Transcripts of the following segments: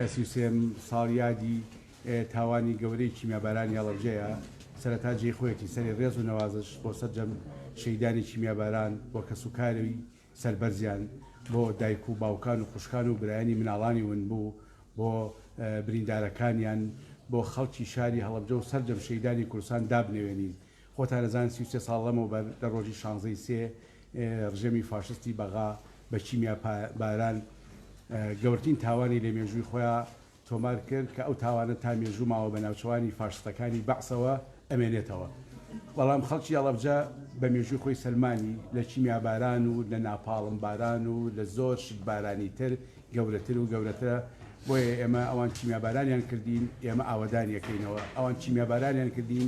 سی و سێ ساڵیادی تاوانی گەورەی کیمیابارانی هەڵەبجەیە، سەرەتا جێی خۆیەتی سەرێ ڕێز و نەوازش بۆ سەرجەم شەهیدانی کیمیاباران و کەسوکاری سەربەرزیان، بۆ دایک و باوکان و خوشکان و برایانی مناڵانی ونبوو، بۆ بریندارەکانیان، بۆ خەڵکی شاری هەڵەبجە و سەرجەم شەهیدانی کوردستان دابنەوێنین. خۆتان ئەزانن سی و سێ ساڵ لەمەوبەر لە ڕۆژی شانزە ی سێ ڕژێمی فاشستی بەغا بە کیمیا باران گەورترین تاوانی لە مێژووی خۆیا تۆمار کرد کە ئەو تاوانە تا مێژوو ماوە بە ناوچەوانی فاشستەکانی بەعسەوە ئەمێنێتەوە بەڵام خەڵکی ئەڵەبجە بە مێژووی خۆی سەلمانی لە کیمیا باران و لە ناپاڵم باران و لە زۆر شت بارانی تر گەورەتر و گەورەترە بۆیە ئێمە ئەوان کیمیا بارانیان کردین ئێمە ئاوەدانیەکەینەوە ئەوان کیمیا بارانیان کردین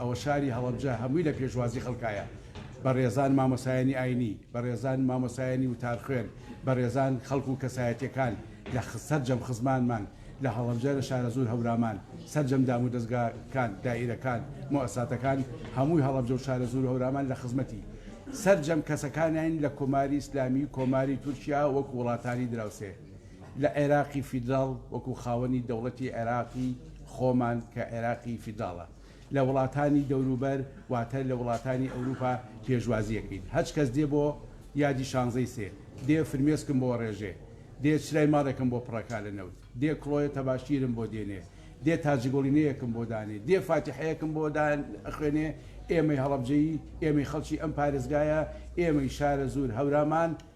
ئەوە شاری هەڵەبجە هەمووی لە پێشوازی خەڵکایە، بەڕێزان مامۆسایانی ئاینی، بەڕێزان مامۆسایانی وتارخوێن، بەڕێزان خەڵک و کەسایەتیەکان لە سەرجەم خزمانمان لە هەڵەبجە لە شارەزوور هەورامان، سەرجەم دامودەزگاکان، دائیرەکان، موئەساتەکان هەمووی هەڵەبجە و شارەزوور و هەورامان لە خزمەتی سەرجەم کەسەکانین لە کۆماری ئیسلامی کۆماری تورکیا وەکو وڵاتانی دراوسێ لە عێراقی فیدراڵ وەکو خاوەنی دەوڵەتی عێراقی خۆمان کە عێراقی فیدراڵە. لە وڵاتانی دەوروبەر واتە لە وڵاتانی ئەوروپا پێشوازی ئەکەیت هەچ کەس دێ بۆ یادی شانزەی سێ دێ فرمێسکم بۆ ئەڕێژێ دێ چرای ماڵێکم بۆ پڕەکا لە نەوت دێ کڵۆیە تەباشیرم بۆ دێنێ دێ تاجگوڵینەیەکم بۆ دانێ دێ فاتیحەیەکم بۆ دان ئەخوێنێ ئێمەی هەڵەبجەیی ئێمەی خەڵکی ئەم پارێزگایە ئێمەی شارەزوور هەورامان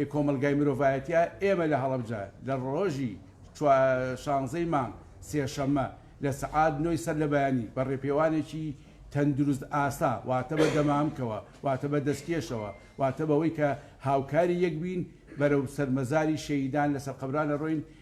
ی کۆمەڵگای مرۆڤایەتییە، ئێمە لە هەڵەبجە لە ڕۆژی چوا شانزە ی مانگ، سێشەممە، لە سەعات نۆ ی سەر لە بەیانی بە ڕێپێوانێکی تەندروست ئاسا واتە بە دەمامکەوە واتە بە دەستکێشەوە واتە بەوەی کە هاوکاری یەک بین بەرەو سەر مەزاری شەهیدان لە سەر قەبران ئەڕۆین،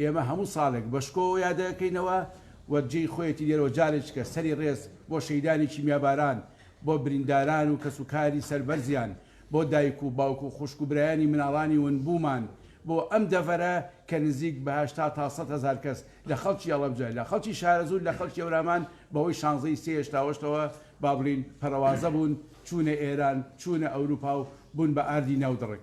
ئێمە هەموو ساڵێک بە شکۆوە یادەکەینەوە و جێی خۆیەتی لێرەوە جارێکیکە سەری ڕێز بۆ شەهیدانی کیمیاباران، بۆ برینداران و کەسوکاری سەربەرزیان، بۆ دایک و باوک و خوشک و برایانی مناڵانی ونبوومان بۆ ئەم دەڤەرە کە نزیک بە هەشتا تا سەد هەزار کەس لە خەڵکی ئەڵەبجە، لە خەڵکی شارەزوور، لە خەڵکی هەورامان بەهۆی شانزە ی سێ هێشتا هۆشتەوە با بڵێین پەڕەوازە بوون، چوونە ئێران، چوونە ئەوروپا و بوون بە ئاردی ناودڕک.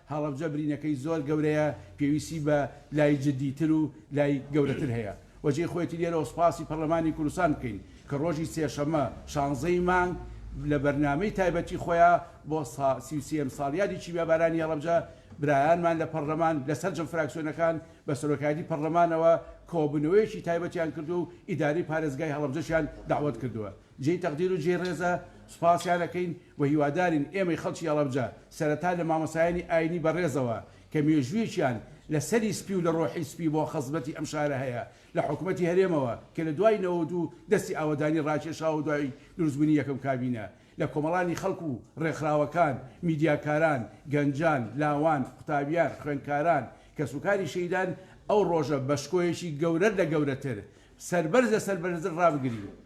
هەڵەبجە برینەکەی زۆر گەورەیە پێویستی بە لای جدی تر و لای گەورەتر هەیە و جێی خۆیەتی لێرەوە سوپاسی پەڕلەمانی کوردستان بکەین کە ڕۆژی سێشەممە شانزە ی مانگ لە بەرنامەی تایبەتی خۆیان بۆ سی و سێ یەم ساڵیادی کیمیابارانی هەڵەبجە برایانمان لە پەڕلەمان لە سەرجەم فراکسیۆنەکان بە سەرۆکایەتی پەڕلەمانەوە کۆبوونەوەیەکی تایبەتیان کردووە و ئیدارەی پارێزگای هەڵەبجەشیان دەعوەت کردووە. جێی تەقدیر و جێی ڕێزە، سوپاسیان ئەکەین و هیوادارین ئێمەی خەڵکی هەڵەبجە سەرەتا لە مامۆستایانی ئایینی بەڕێزەوە کە مێژوویەکیان لە سەری سپی و لە ڕۆحی سپی بۆ خزمەتی ئەم شارە هەیە لە حکومەتی هەرێمەوە کە لە دوای نەوەد و دوو دەستی ئاوەدانی ڕاکێشا و دوای دروستبوونی یەکەم کابینە لە کۆمەڵانی خەڵک و ڕێکخراوەکان، میدیاکاران، گەنجان، لاوان، قوتابیان، خوێندکاران، کەسوکاری شەهیدان ئەو ڕۆژە بە شکۆیەکی گەورەر لە گەورەتر سەربەرز لە سەربەرزر ڕابگرین.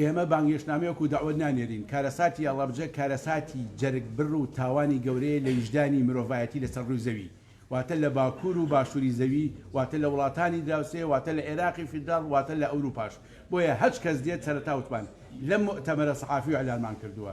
ئێمە بانگهێشتنامە وەکو دەعوەت نانێرین، کارەساتی هەڵەبجە کارەساتی جەرگ بڕ و تاوانی گەورەیە لە ویژدانی مرۆڤایەتی لەسەر ڕووی زەوی واتە لە باکوور و باشووری زەوی واتە لە وڵاتانی دراوسێ واتە لە ئێراقی فیدراڵ واتە لە ئەوروپاش بۆیە هەچ کەس دێت سەرەتا وتمان لەم موئتەمەرە سەحافی و ئیعلانمان کردووە